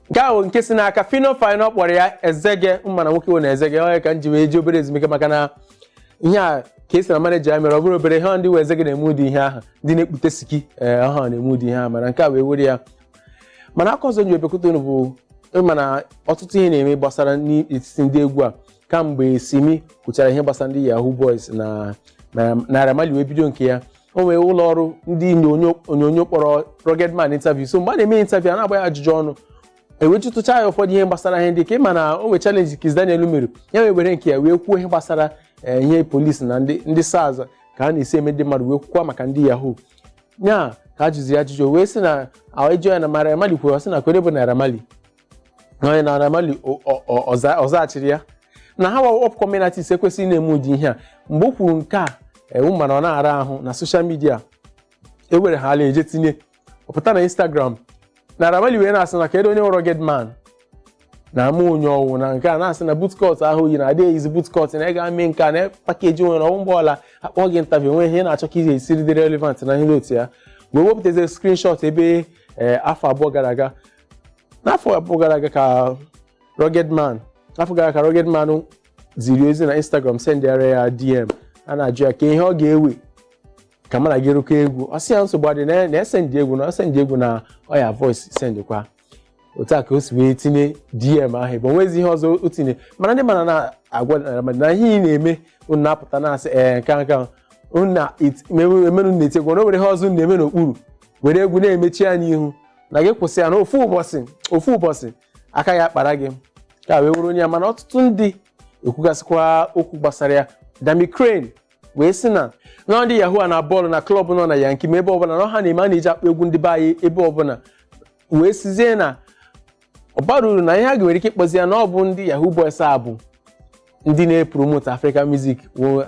nke ahụ nke si n'aka Phyno Phyno kpọrọ ya ezege mana nwoke wụ na ezege onye ka m ji wee je obere ezumike maka na ihe a ka esi na maneja ya mere ọ bụrụ obere ihe ndị wụ ezege na-eme ụdị ihe ahụ ndị na-ekpute siki ee ọ ha na-eme ụdị ihe ahụ mana nke a wee were ya mana akụkọ ọzọ m ji abịakwute unu bụ ị ma na ọtụtụ ihe na-eme gbasara n'etiti ndị egwu a kamgbe Simi kwuchara ihe gbasara ndị yahoo boys na na Naira Marley wee bido nke ya o nwere ụlọ ọrụ ndị onyonyo onyonyo kpọrọ Rugged Man interview so mgbe a na-eme interview a na-agba ya ajụjụ ọnụ e wee jụtụcha ya ụfọdụ ihe gbasara ihe ndị ka ị ma na o nwere challenge Kizz Daniel mere ya wee were nke ya wee kwuo ihe gbasara eh, ihe polisi na ndị ndị SARS ka a na-esi eme ndị mmadụ wee kwukwa maka ndị yahoo ya ka a jụziri ajụjụ wee sị na ejọ ya na Naira Marley kwuru ọ sị na kee onye bụ Naira Marley onye Naira Marley ọ zaghachiri ya na ha wụ upcoming artists ekwesịghị na-eme ụdị ihe a mgbe o kwuru nke a ewu mana ọ na-ara ahụ na social media ewere ha ala eje tinye ọ pụta na Instagram Naira Marley wee na-asị na kedu onye wụ Rugged Man na ama onye ọ wụ na nke a na-asị na bootcut ahụ i yi na adị eyizi bootcut na ị ga mee nke a na package nwere ọnwụ mgbe ọbụla akpọ gị interview o nwe ihe na-achọ ka ị ga-esiri dị relevant na ihe otu a wee wepụtazie screenshot ebe afọ abụọ gara aga n'afọ abụọ gara aga ka Rugged Man afọ gara ka Rugged Man ziri ozi na Instagram sendịara ya DM a na-ajụ ya kee ihe ọ ga-ewe ka mụ na gị rụkọ egwu ọ sị ya nsogbu adị na na esendị egwu na ọ sendị egwu na ọya voice sendịkwa otu a ka o si wee tinye DM ahụ ebe o nwezi ihe ọzọ o tinye mana ndị mmadụ na-agwa Naira Marley na ihe ị na-eme unu na-apụta na-asị ee nke a, nke a, unu na-eme unu na-eti egwu na o nwere ihe ọzọ unu na-eme n'okpuru were egwu na-emechi ya n'ihu na gị kwụsị ya na ofu ụbọchị ofu ụbọchị aka ga-akpara gị ka wee were onye ya mana ọtụtụ ndị ekwugasịkwa okwu gbasara ya Dammy Krane wee sị na na ndị yahoo a na-aball na club nọ na Yankee ma ebe ọbụla na ha na-eme a na-eji akpọ egwu ndị be anyị ebe ọbụla wee sizie na ọ bara uru na ihe a ga-nwere ike ịkpọzi ya na ọ bụ ndị yahoo boys a bụ ndị na-epromote African music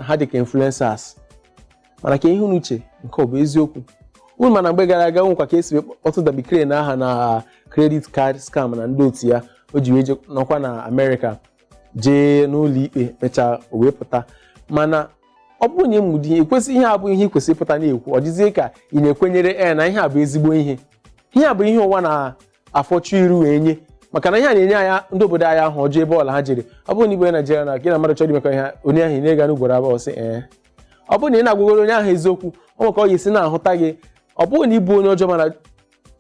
ha dịka influencers mana kee ihe unu che nke ọ bụ eziokwu unu ma na mgbe gara aga o nwekwa ka e si wee kpọtụ Dammy Krane aha na credit card scam na ndị otu ya o ji wee je nọkwa na Amerịka jee n'ụlọ ikpe mechaa o wee pụta mana ọ bụrụ na ị me ụdị ihe a abụghị ihe i kwesịrị ịpụta na-ekwu ọ dịzie ka ị na-ekwenyere e na ihe a bụ ezigbo ihe ihe a bụ ihe ụwa na afọchu iru wee nye maka na ihe a na-enye anyị ndị obodo anyị aha ọjọọ ebe ọbụla ha jere ọ bụrụ na ị wụ onye Naijiria na gị na mmadụ chọrọ imekọ ihe onye ahụ ị na-ega n'ugboro abụọ ọ sị ee ọ bụrụ na ị na-agwagoro onye ahụ eziokwu o nwe ka ọ ga-esi na-ahụta gị ọ bụrụ na ị bụ onye ọjọọ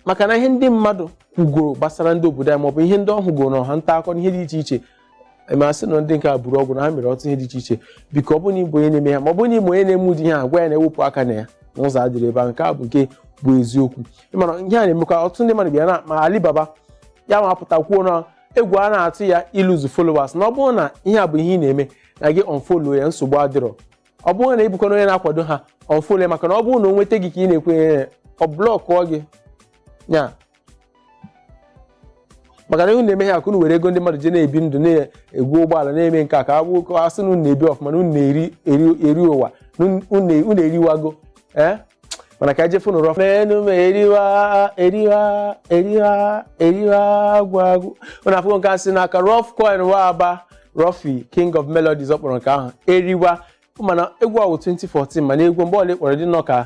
maka na ihe ndị mmadụ kwugoro gbasara ndị obodo anyị maọbụ ihe ndị ọ hụgoro na ọwa nta akụkọ na ihe dị iche iche ma asị na ndị nke a buru ọgwụ na ha mere ọtụtụ ihe dị iche iche biko ọ bụrụ na ịbụ onye na-eme ha ma ọ bụrụ na ịbụ onye na-eme ụdị ihe a gwa ya na-ewepụ aka na ya na ụzọ adịrọ ebe a nke a bụ nke bụ eziokwu ịmana ihe a na-emekwa ọtụtụ ndị mmadụ bịa na ma Alibaba ya ma apụta kwuo na egwu a na-atụ ya iluzu followers na ọ bụrụ na ihe a bụ ihe ị na-eme na gị unfollow ya nsogbu adịrọ ọ bụrụ na ịbụkwa na onye na-akwado ha unfollow ya maka na ọ bụrụ na o nweta gị ka ị na-ekwenye ya ọ blọkụọ gị ya maka na unu na-eme ha ka unu were ego ndị mmadụ ji na-ebi ndụ na-ego ụgbọala na-eme nke a ka agwụ ụkọ asị na unu na-ebi ọfụma na unu na-eri eri- eri ụwa na unu- unu unu eriwago ee mana ka ejefu nụrụ menu ma eriwa eriwa eriwa eriwa agwụ agwụ unu afụgo nke a si n'aka Ruffcoin Nwa Aba Ruffy king of melodies ọ kpọrọ nke ahụ eriwa mana egwu a wụ 2014 mana egwu mgbe ọbụla ị kpọrọ dị nnọọ ka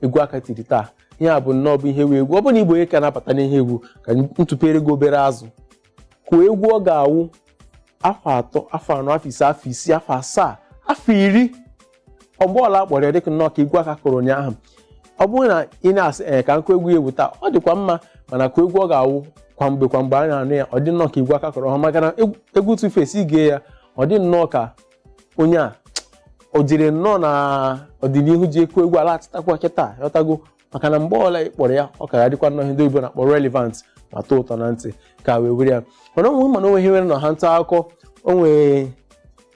egwu a ka tiri taa ihe a bụ nnọọ bụ ihe wụ egwu ọ bụ na ị bụ onye ka na-abata n'ihe egwu ka m tụpere gị obere azụ kụọ egwu ọ ga-awụ afọ atọ afọ anọ afọ ise afọ isii afọ asaa afọ iri oge ọbụla a kpọrọ ya dịkwa nnọọ ka egwu a ka kụrụ ụnyaahụ ọ bụrụ na ị na-asị ee ka m kụọ egwu ya ewu taa ọ dịkwa mma mana ka egwu ọ ga-awụ kwa mgbe kwa mgbe a na-anụ ya ọ dị nnọọ ka egwu a ka kụrụ ọhụụ maka na egwu Tuface i gee ya ọ dị nnọọ ka onye a o jere nnọọ na ọdịnihu jee kụọ egwu a laghachitakwa kịta ghọtago maka na mgbe ọbụla ị kpọrọ ya ọ ka ga-adịkwa nnọọ ihe ndị oyibo na-akpọ relevant ma tọọ ụtọ na ntị ka wee were ya mana o nwe mana o nwe ihe nwere na ha nta akụkọ onwe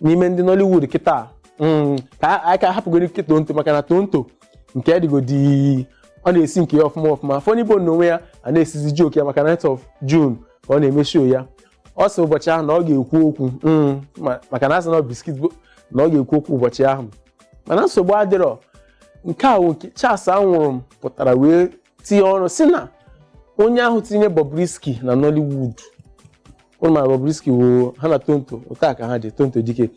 n'ime ndị Nollywood kịta mm, ka anyị ka hapụgoro nke Tonto maka na Tonto nke dịgodi ọ na-esi nke ya ọfụma ọfụma Funny Bone n'onwe ya a na-esizi joke ya maka ninth of June ka ọ na-eme show ya ọ sị ụbọchị ahụ na ọ ga-ekwu okwu mm, ma- maka na asị na ọ biskit bone na ọ ga-ekwu okwu ụbọchị ahụ mana nsogbu adịrọ nke a nwoke Charles Awurum pụtara wee tinye ọnụ sị na onye ahụ tinye Bobrisky na Nollywood unu ma Bobrisky woo ha na Tonto otu a ka ha dị Tonto Dikeh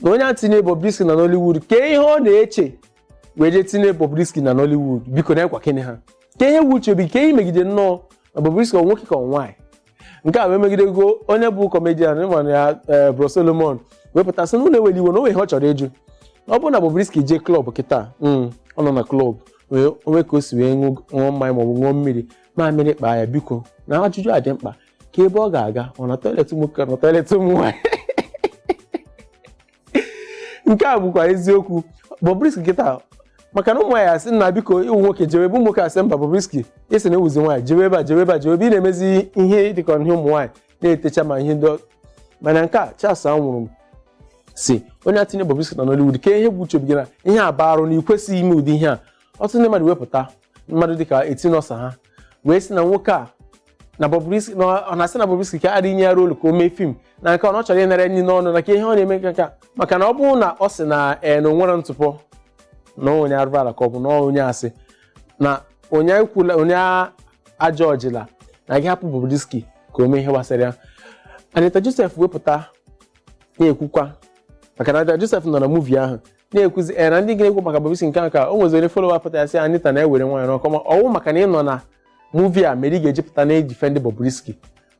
na onye ahụ tinye Bobrisky na Nollywood kee ihe ọ na-eche wee jee tinye Bobrisky na Nollywood biko na ekwa kene ha kee ihe wụ uche obi kee ihe megide nnọọ na Bobrisky ọ nwoke ka ọ nwaanyị nke a wee megidego onye bụ kọmedian ịmana ya ee, Bro Solomon wee pụta sị na unu ewela iwe na o nwe ihe ọ chọrọ ịjụ ọ bụrụ na Bobrisky jee klọb kịta mm, ọ nọ na klọb wee o nwee ka o si wee ṅụ- ṅụọ mmanya maọbụ ṅụọ mmiri mamịrị kpaa ya biko na ajụjụ a dị mkpa kee ebe ọ ga-aga ọ na tọilet nwoke ọ na tọilet ụmụ nwaanyị nke a bụkwa eziokwu Bobrisky kịta maka na ụmụ nwaanyị asị nna biko ịwụ nwoke jewe ebe ụmụ nwoke asị mba Bobrisky ị sị na ị wụzi nwaanyị jewe ebe a jewe ebe a jewe ebe ị na-emezi ihe dịka ihe ụmụ nwaanyị na-etecha ma ihe ndị ọ- mana nke a Charles Awurum sị onye a tinye Bobrisky na Nollywood kee ihe bụ uche obi gị na ihe a bụ arụ na ị kwesịghị ime ụdị ihe a ọtụtụ ndị mmadụ wee pụta mmadụ dịka Etinosa ha wee sị na nwoke a na Bobrisky na ọ na-asị na Bobrisky ka adịghị nye ya rolu ka o mee fim na nke ọ na ọ chọrọ ịnara nri n'ọnụ na ka ihe ọ na-eme nke nka maka na ọ bụrụ na ọ sị na ee na o nwere ntụpọ na onye arụrụ ala ka ọ bụ na onye asị na onye ekwula onye ajọjịla na gị hapụ Bobrisky ka o mee ihe gbasara ya Anita Joseph wepụta na-ekwukwa maka na Anita Joseph nọ na muvi ahụ na-ekwuzi ee na ndị ga-ekwu maka Bobrisky nke nke a o nweziri folowa pụtara sị Anita na-ewere nwaayọ n'ọkọ ma ọ wụ maka na ị nọ na muvi a mere ị ga-eji pụta na-edifendị Bobrisky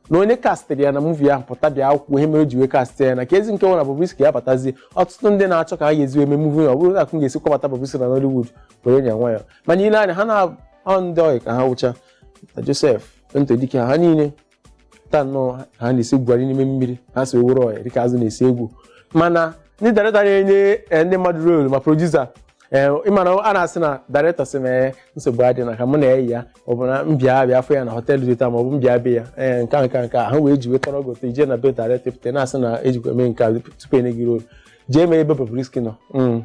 na onye kastịrị ya na muvi ahụ pụta bịa kwukwuo ihe mere o ji wee kastị ya na ka ezi nke nwere Bobrisky ya batazie ọtụtụ ndị na-achọ ka ha ga-esi eme muvi ọ bụrụ na m ga-esi kpọbata Bobrisky na Nollywood were nye nwa ya mana ile anya ha na ọ ndị ọyị ka ha wụcha na Joseph Tonto Dikeh ha niile taa nnọọ ha na-esi egwuhari n'ime mmiri ha si owere ọya dịka azụ na-esi egwu mana ndị dairetọ na-enye eh, ndị mmadụ rolu ma produsa ị mana a na-asị na dairetọ sị m ee nsogbu adị na ka mụ na eyi ya ọ bụ na m bịa abịa afụ ya na họteelụ dị etu a ma ọ bụ m bịa be ya ee nke a nke a nke a ha wee ji wetara ọgụ otu ije na be dairetọ pụta na-asị na ejikwa eme nke a tupu enye gị rolu jee mee ebe Bobrisky nọ Mm.